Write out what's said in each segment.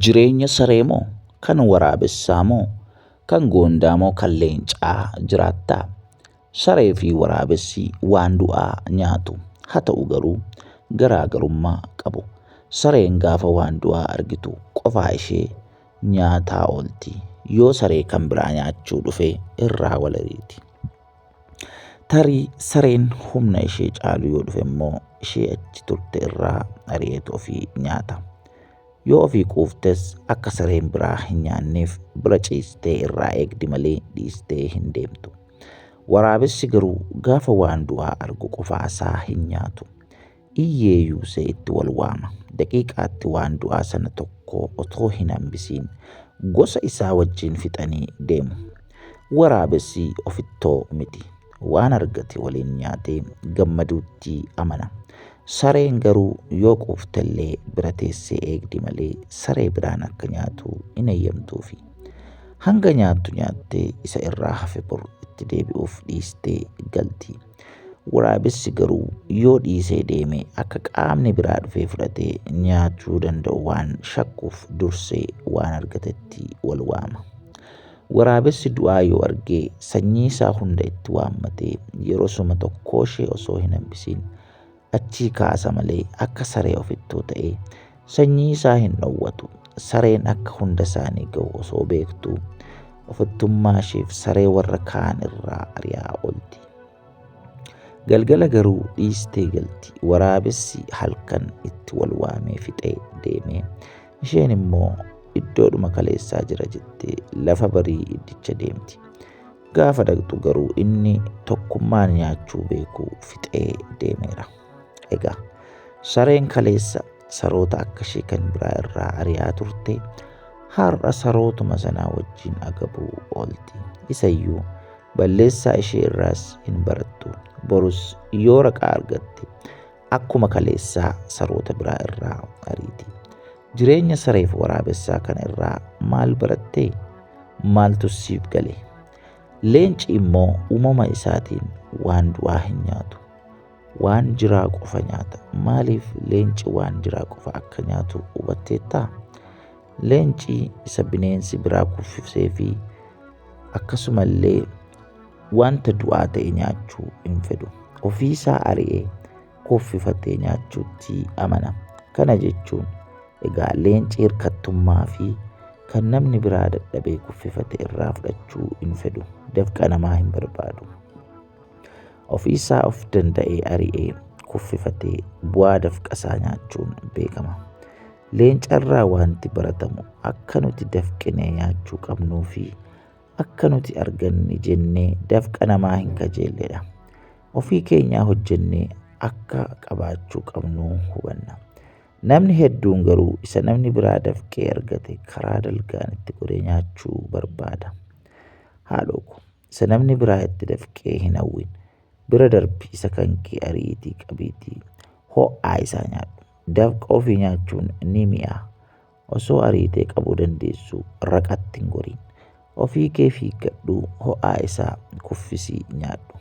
Jireenya saree moo kan waraabessaa moo kan goondaa moo kan leencaa jiraattaa? Saree fi waraabessi waan du'aa nyaatu. Haa ta'u garuu garaagarummaa qabu. Sareen gaafa waan du'aa argitu qofaa ishee nyaataa oolti. Yoo saree kan biraa nyaachuu dhufe irraa wal eriti. Tarii sareen humna ishee caalu yoo dhufe immoo ishee achi turte irraa ari'eetu ofii nyaata. Yoo ofii quuftes akka sareen biraa hin nyaanneef bira ciistee irraa eegdi malee dhiistee hin deemtu. Waraabessi garuu gaafa waan du'aa argu qofaa isaa hin nyaatu. Iyyeeyuu see itti wal waama. Daqiiqaatti waan du'aa sana tokko otoo hin hambisiin gosa isaa wajjin fixanii deemu. Waraabessi ofittoo miti. Waan argate waliin nyaatee gammaduutti amana. Sareen garuu yoo quuftellee bira teessee eegdi malee saree biraan akka nyaatu hin eeyyamtuufi. Hanga nyaattu nyaattee isa irraa hafe bor itti deebi'uuf dhiistee galti. Waraabessi garuu yoo dhiisee deeme akka qaamni biraa dhufee fudhatee nyaachuu danda'u waan shakkuuf dursee waan argatetti wal waama. Waraabessi du'aa yoo argee sanyii isaa hunda itti waammatee yerosuma tokkooshee osoo hin hambisiin Achii kaasa malee akka saree ofittuu ta'ee sanyii isaa hin dhowwatu. Sareen akka hunda isaanii ga'u osoo beektuu ofittummaa isheef saree warra kaan irraa ari'aa oolti. Galgala garuu dhiistee galti. Waraabessi halkan itti wal waamee fixee deeme. Isheen immoo iddoodhuma kaleessaa jira jettee lafa barii iddicha deemti. Gaafa dhaqxu garuu inni tokkummaan nyaachuu beeku fixee deemeera. Egaa sareen kaleessa saroota akka ishee kan biraa irraa ari'aa turte har'a sarootuma sanaa wajjin agabuu oolti. Isayyuu balleessaa ishee irraas hin barattu. Borus yoo raqaa argatte akkuma kaleessaa saroota biraa irraa ariiti. Jireenya sareef waraabessaa kana irraa maal barattee? Maaltu siif gale? Leenci immoo uumama isaatiin waan du'aa hin nyaatu. Waan jiraa qofa nyaata. Maaliif leenci waan jiraa qofa akka nyaatu hubatteettaa? Leenci isa bineensi biraa kuffisee fi akkasumallee wanta du'aa ta'e nyaachuu hin fedhu. Ofiisaa ari'ee kuffifattee nyaachuutti amana. Kana jechuun egaa leenci hirkattummaa fi kan namni biraa dadhabee kuffifate irraa fudhachuu hin fedhu. Dafqa namaa hin barbaadu. Ofiisaa of danda'ee ari'ee kuffifatee bu'aa dafqa isaa nyaachuun beekama. Leencarraa wanti baratamu akka nuti dafqinee nyaachuu qabnuu fi akka nuti arganne jennee dafqa namaa hin kajeelledha. ofii keenyaa hojjennee akka qabaachuu qabnu hubanna. Namni hedduun garuu isa namni biraa dafqee argate karaa dalgaan itti godhee nyaachuu barbaada. Haadhoo ko, isa namni biraa itti dafqee hin hawwin. Bira darbi isa kan kee ariitii qabiitii ho'aa isaa nyaadhu. Dafqa ofii nyaachuun ni mi'aa. Osoo ariitee qabuu dandeessu raqatti hin goriin. Ofii kee fiiggadhu ho'aa isaa kuffisii nyaadhu.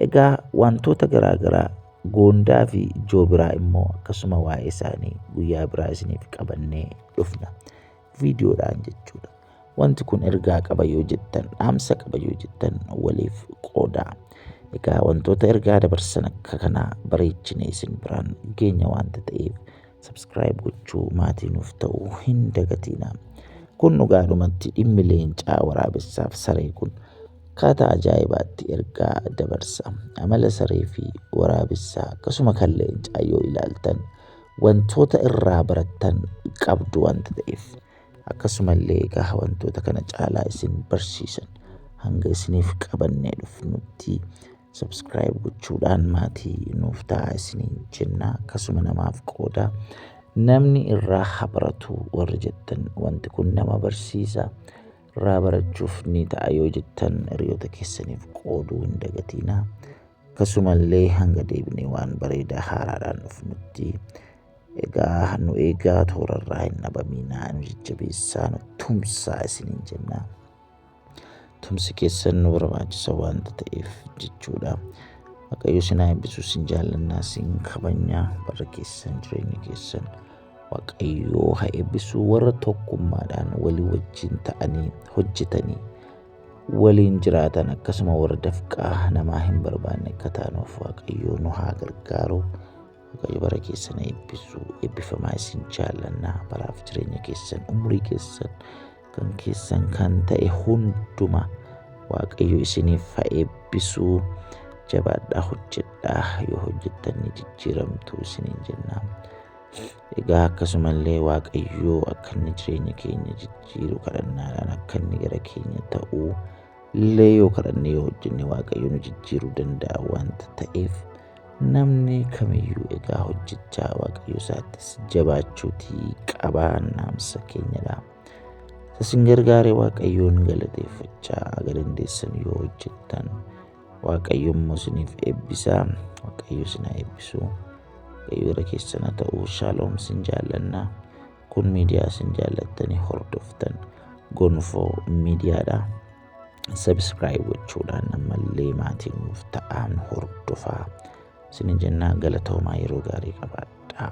Egaa wantoota garaa garaa goondaa fi joobiraa immoo akkasuma waa'ee isaanii guyyaa biraa isiniif qabannee dhufna. Viidiyoodhaan jechuudha. Wanti kun ergaa qaba yoo jettan, dhaamsa qaba yoo jettan waliif qoodaa. Egaa wantoota ergaa dabarsan akka kanaa bareechinee isin biraan geenya waanta ta'eef Subscribe gochuu maatii nuuf ta'uu hin dagatiina. Kun dhugaadhumatti dhimmi leencaa waraabessaaf saree kun akkaataa ajaa'ibaatti ergaa dabarsa. Amala saree fi waraabessaa akkasuma kan leencaa yoo ilaaltan wantoota irraa barattan qabdu wanta ta'eef. Akkasumallee egaa wantoota kana caalaa isin barsiisan hanga isiniif qabannee dhufnutti Subscribe gochuudhaan maatii nuuf ta'a isiniin jenna akkasuma namaaf qooda namni irraa haa baratu warri jettan wanti kun nama barsiisa irraa barachuuf ni ta'a yoo jettan hiriyoota keessaniif qooduu hin dagatiina akkasumallee hanga deebinee waan bareedaa haaraadhaan dhufnutti egaa nu eegaa toorarraa hin dhabamiinaa nu jajjabeessaa nu tumsaa isiniin jenna. tumsi keessan nu barbaachisa waanta ta'eef jechuudha. Waaqayyo isin haa eebbisu isin jaallannaa isin kabajnaa bara keessan jireenya keessan Waaqayyo haa eebbisu warra tokkummaadhaan walii wajjin ta'anii hojjetanii waliin jiraatan akkasuma warra dafqaa namaa hin barbaanne akka taanuuf Waaqayyo nu haa gargaaru. Waaqayyo bara keessan eebbisu eebbifamaa isin jaallannaa baraaf jireenya keessan umurii keessan kan keessan kan ta'e hunduma waaqayyo isiniif haa eebbisu jabaadhaa hojjedhaa yoo hojjettan ni jijjiiramtu isiniin jenna. Egaa akkasumallee waaqayyo akka inni jireenya keenya jijjiiru kadhannaadhaan akka inni gara keenya ta'u illee yoo kadhanne yoo hojjenne waaqayyo nu jijjiiruu danda'a wanta ta'eef Namni kamiyyuu egaa hojjechaa waaqayyo isaattis jabaachuutii qabaa naamsa keenyadha. Isin gargaare waaqayyoon galateeffachaa aga dandeessan yoo hojjettan waaqayyo immoo isiniif eebbisaa waaqayyo isin haa eebbisu waaqayyo irra keessana ta'uu shaaloom isin jaallannaa. Kun miidiyaa isin jaallattanii hordoftan gonfoo miidiyaadha. Sabiskiraayib gochuudhaan ammallee maatii nuuf ta'aan hordofaa. Isin jennaa galatoomaa yeroo gaarii qabaadhaa.